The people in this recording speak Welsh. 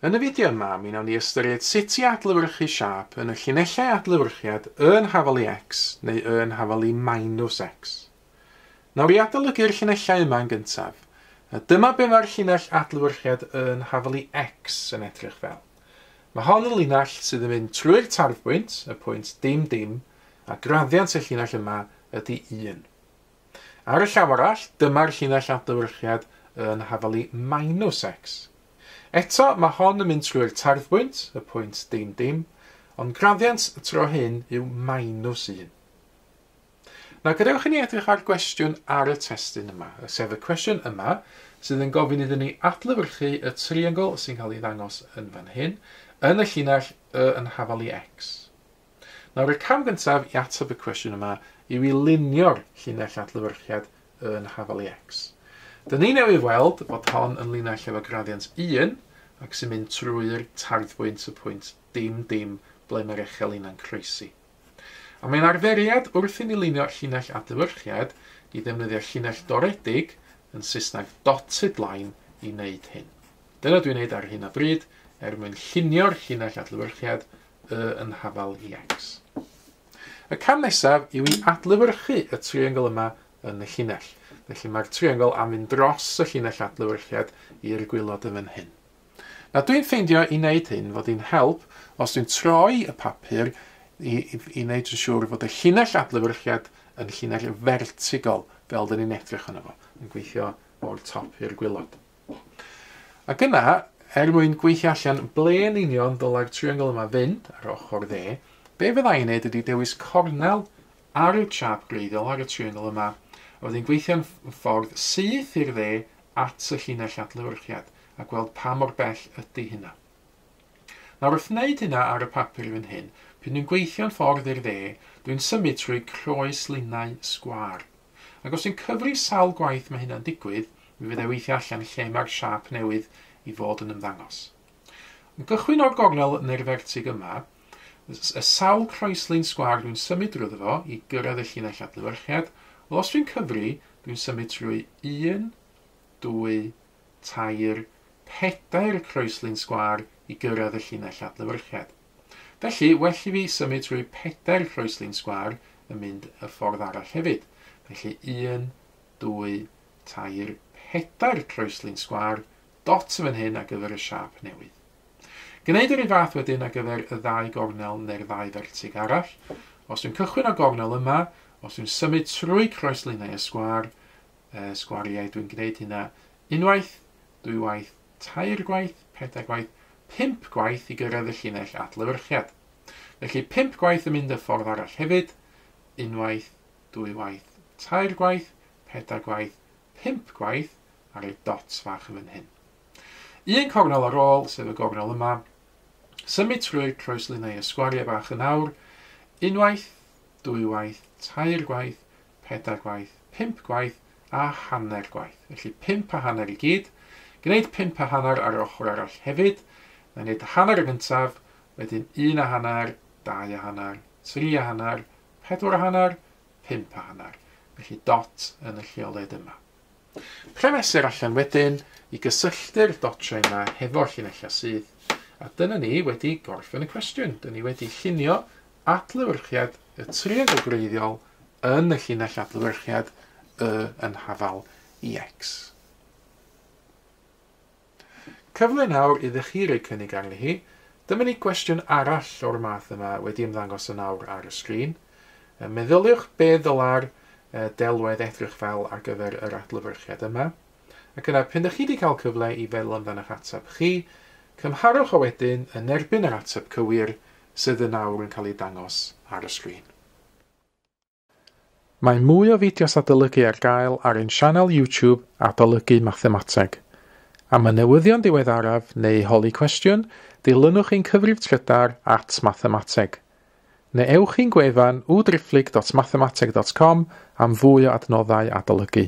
Yn y fideo yma, mi wnawn ni ystyried sut i adlewyrchu siâp yn y llinellau adlewyrchiad Y yn hafal i X neu Y yn hafal i minus X. Nawr i adolygu'r llinellau yma yn gyntaf, a dyma be mae'r llinell adlewyrchiad Y yn hafal i X yn edrych fel. Mae hon yn linell sydd yn mynd trwy'r tarfbwynt, y pwynt dim dim, a graddiant y llinell yma ydy 1. Ar y llaw arall, dyma'r llinell adlewyrchiad yn hafalu minus x. Eto, mae hon yn mynd trwy'r tarddbwynt, y pwynt dim dim, ond graddiant y tro hyn yw minus 1. Nawr, gadewch i ni edrych ar gwestiwn ar y testun yma, sef y cwestiwn yma, sydd yn gofyn iddyn ni adlewyrchu y triongl sy'n cael ei ddangos yn fan hyn, yn y llinell y yn hafalu x. Nawr, y cam gyntaf i ateb y cwestiwn yma yw i lunio'r llinell adlewyrchiad yn Hafal EX. Dyn ni newydd weld fod hon yn linell efo gradiant 1 ac sy'n mynd trwy'r tarddbwynt y pwynt dim dim ble mae'r echel inna'n croesi. A mae'n arferiad wrth i ni lunio llinell adlewyrchiad i ddefnyddio llinell doredig, yn Saesneg dotted line, i wneud hyn. Dyna dwi'n wneud ar hyn o bryd er mwyn llunio'r llinell adlewyrchiad y yn hafal iaics. Y cam nesaf yw i adlewyrchu y triongl yma yn y llinell. Felly mae'r triongl am fynd dros y llinell adlewyrchiad i'r gwylod yn fan hyn. Na dwi'n ffeindio i wneud hyn fod hi'n help os dwi'n troi y papur i, i, i wneud yn siŵr fod y llinell adlewyrchiad yn llinell fertigol fel dyn ni'n edrych yno fo, yn gweithio o'r top i'r gwylod. Ac yna, er mwyn gweithio allan ble yn union ddylai'r triongl yma fynd, ar ochr dde, be fydda i'n neud ydi dewis cornel ar y chart gwreiddiol ar y triongl yma, a wedyn gweithio'n ffordd syth i'r dde at y llinell adlewyrchiad, a gweld pa mor bell ydi hynna. Nawr, wrth wneud hynna ar y papur fan hyn, pryd dwi'n gweithio'n ffordd i'r dde, dwi'n symud trwy croes linnau sgwâr. Ac os dwi'n cyfri sawl gwaith mae hynna'n digwydd, mi fydda i weithio allan lle mae'r siâp newydd i fod yn ymddangos. Yn gychwyn o'r gornel neu'r fertig yma, y sawl croeslin sgwâr dwi'n symud drwyddo fo i gyrraedd y llinell adlewyrchiad, wel os dwi'n cyfri, dwi'n symud trwy un, dwy, tair, pedair croeslin sgwâr i gyrraedd y llinell adlewyrchiad. Felly, well i fi symud trwy pedair croeslin sgwâr yn mynd y ffordd arall hefyd. Felly, un, dwy, tair, pedair croeslin sgwâr, dot yn fan hyn ar gyfer y siâp newydd. Gwneud yr un fath wedyn ar gyfer y ddau gornel neu'r ddau fertig arall. Os dwi'n cychwyn o gornel yma, os dwi'n symud trwy croeslinau y sgwâr, sgwariau, dwi'n gwneud hynna unwaith, dwy waith, tair gwaith, pedair gwaith, pump gwaith i gyrraedd y llinell adlewyrchiad. Felly pump gwaith yn mynd y ffordd arall hefyd, unwaith, dwy waith, tair gwaith, pedair gwaith, pump gwaith ar y dots fach yn fan hyn. Un cornel ar ôl, sef y gornel yma, symud trwy'r croeslinau y sgwariau bach yn awr, unwaith, dwy waith, tair gwaith, pedair gwaith, pump gwaith a hanner gwaith. Felly pump a hanner i gyd. Gwneud pump a hanner ar yr ochr arall hefyd. Mae'n gwneud hanner y gyntaf, wedyn un a hanner, dau a hanner, tri a hanner, pedwar a hanner, pump a hanner. Felly dot yn y lleoled yma. Lle mesur allan wedyn i gysylltu'r dotiau yma hefo'r llinellau sydd. A dyna ni wedi gorffen y cwestiwn. Dyn ni wedi llunio adlewyrchiad y triongl gwreiddiol yn y llinell adlewyrchiad y yn hafal i x. Cyfle nawr idde chi roi cynnig arni hi. Dyma ni gwestiwn arall o'r math yma wedi ymddangos yn awr ar y sgrin. Meddyliwch be ddyla'r delwedd edrych fel ar gyfer yr adlewyrchiad yma. Ac yna, pen da chi wedi cael cyfle i feddwl amdano'ch ateb chi, cymharwch o wedyn yn erbyn yr ateb cywir sydd yn awr yn cael ei dangos ar y sgrin. Mae mwy o fideos adolygu ar gael ar ein sianel YouTube Adolygu Mathemateg. Am y newyddion diweddaraf neu holi cwestiwn, dilynwch ein cyfrif trydar at Mathemateg. Neu ewch i'n gwefan www.driphlyg.mathemateg.com am fwy o adnoddau adolygu.